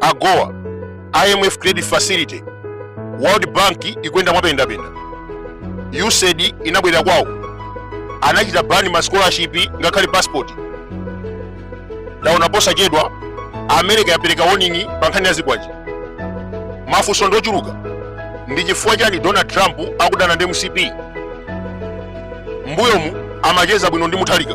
agoa imf credit facility world bank ikuyenda mwapendapenda usaid inabwerera kwawo anachita ban ma scholarship ngakhale passport ndaona posachedwa america yapereka warning pa nkhani ya zikwanje mafunso ndochuluka ndi chifukwa chani donald trump akudana ndi mcp mbuyomu amacheza bwino ndi mutharika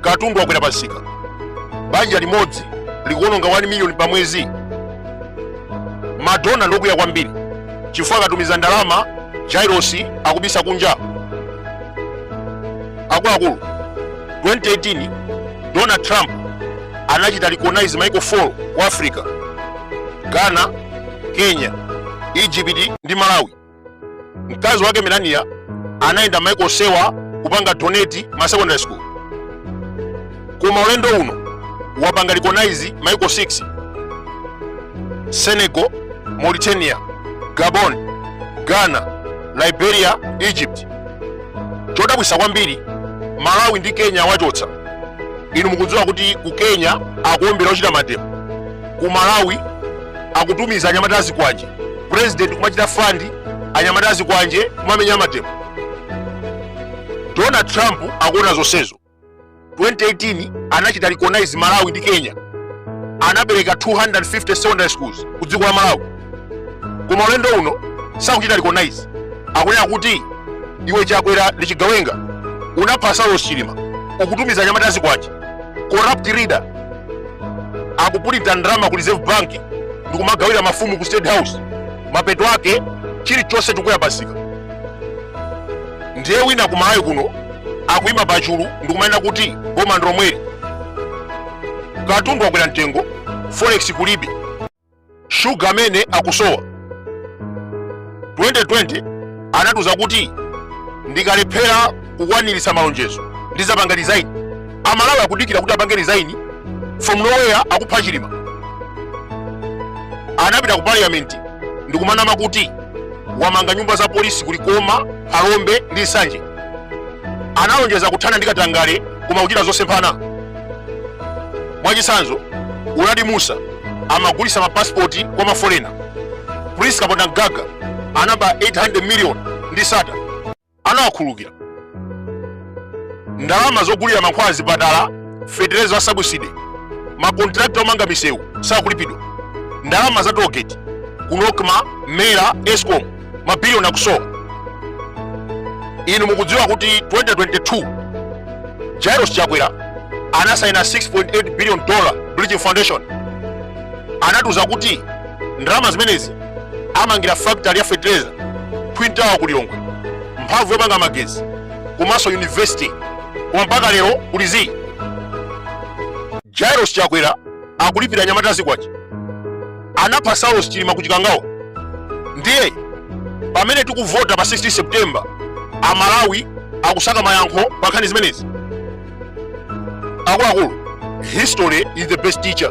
katundu wakwera pamsika banja limodzi likuononga 1 miliyoni pa mwezi madona ndokwiya kwambiri chifukwa akatumiza ndalama jairosi akubisa kunja akuluakulu 2018 donald trump anachita recognize maiko 4 ku africa ghana kenya egypt ndi malawi mkazi wake melania anayenda maiko onsewa kupanga donate ma secondary school koma ulendo uno wapanga recognize maiko 6 senegal mauritania gabon ghana liberia egypt chodabwisa kwambiri malawi ndi kenya wachotsa inu mukudziwa kuti ku kenya akuombera ochita mademo ku malawi akutumiza anyamata azikwanje president kumachita fund anyamata azikwanje kumamenya amademo donald trump akuona zonsezo 2018 anachita recognize malawi ndi kenya anapereka 250 secondary schools ku dziko la malawi koma ulendo uno sakuchita recognize akunena kuti iwe chakwera ndi chigawenga unapha saulos chilima ukutumiza anyamata azikwanje corrupt leader akupulinta ndalama ku reserve bank ndikumagawira mafumu ku state house mapeto ake chilichonse chikwera pamsika ndiye wina ku malawi kuno akuyima pachulu ndikumanena kuti boma ndilomweli katundu wakwera mtengo forex kulibe shuga amene akusowa 2020 anatiuza kuti ndikalephera kukwaniritsa malonjezo ndizapanga resign amalawi akudikira kuti apange resign from nowhere akupha chilima anapita ku parliament ndikumanama kuti wamanga nyumba za polisi ku likoma phalombe ndi nsanje analonjeza kuthana ndi katangale koma kuchita zosemphana mwachitsanzo uladi mussa amagulitsa mapasipoti kwa mafolena prince kapondamgaga anaba 800 million ndi sattar anawakhululukira ndalama zogulira mankhwala azipatala fetereza wa sabuside makontrakta omanga misewu sakulipidwa ndalama za tollgate ku nocma mera escom mabiliyoni akusowa inu mukudziwa kuti 2022 jairos chakwera anasaina 6.8 billion dollar bridging foundation anatiuza kuti ndalama zimenezi amangire factory ya fertilizer twin tower ku lilongwe mphamvu yopanga magezi komanso university koma mpaka lero kuli zii jairos chakwera akulipira anyamata azikwanje anapha saulos chilima ku chikangawa ndiye pamene tikuvota pa 16 september amalawi akusaka mayankho pa nkhani zimenezi akuluakulu history is the best teacher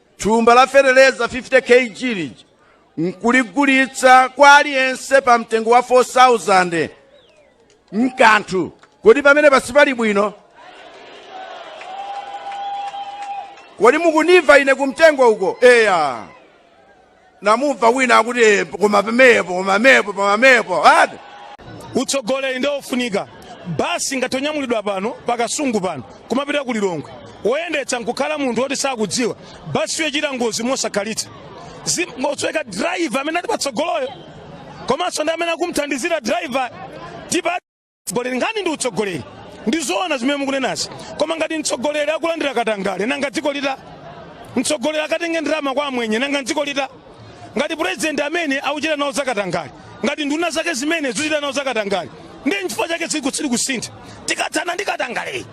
Thumba la feteleza 50 kg lija nkuligulitsa kwa aliyense pa mtengo wa 4000 mkanthu kodi pamene pasi pali bwino kodi mukunimva ine kumtengo uko eya namumva wina akuti "Eh, koma pomwepo koma pomwepo koma pomwepo ati utsogoleri ndi ofunika basi ngati yonyamulidwa pano pakasungu pano kumapita ku lilongwe woyendetsa nkukhala munthu woti sakudziwa basi ichita ngozi mosakhalitsa izingosweka driver amene ali patsogoloyo komanso ndi amene akumthandizira driver tipa mtsogoleri nkhani ndi utsogoleri ndi zoona zimene mukunenazi koma ngati mtsogoleri akulandira katangale nanga dziko lita mtsogoleri akatenge ndalama kwa amwenye nanga dziko lita ngati purezidenti ndi amene akuchita nawo zakatangale ngati nduna zake zimene zikuchita nawo zakatangale ndiye nchifukwa chake tsiku sili kusintha tikathane ndi katangaleyi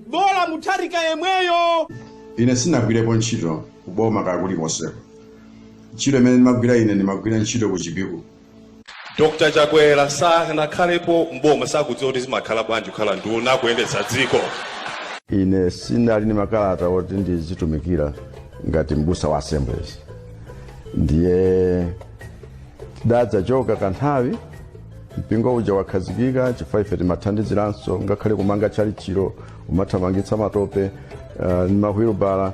bola mutharika yemweyo ine sinagwirepo ntchito kuboma kwa kulikonseko ntchito imene ndimagwira ine ndimagwira ntchito ku chipiku Dr Chakwera sanakhalepo mboma sakudziwa kuti zimakhala bwanji kukhala nduna kuyendetsa dziko. Ine sinali ni makalata oti ndizitumikira ngati mbusa wa Assemblies, ndiye tidadzachoka kanthawi mpingo uja wakhazikika chifukwa ife timathandiziranso ngakhale kumanga tchalitchilo umathamangitsa matope uh, ni mahwilubala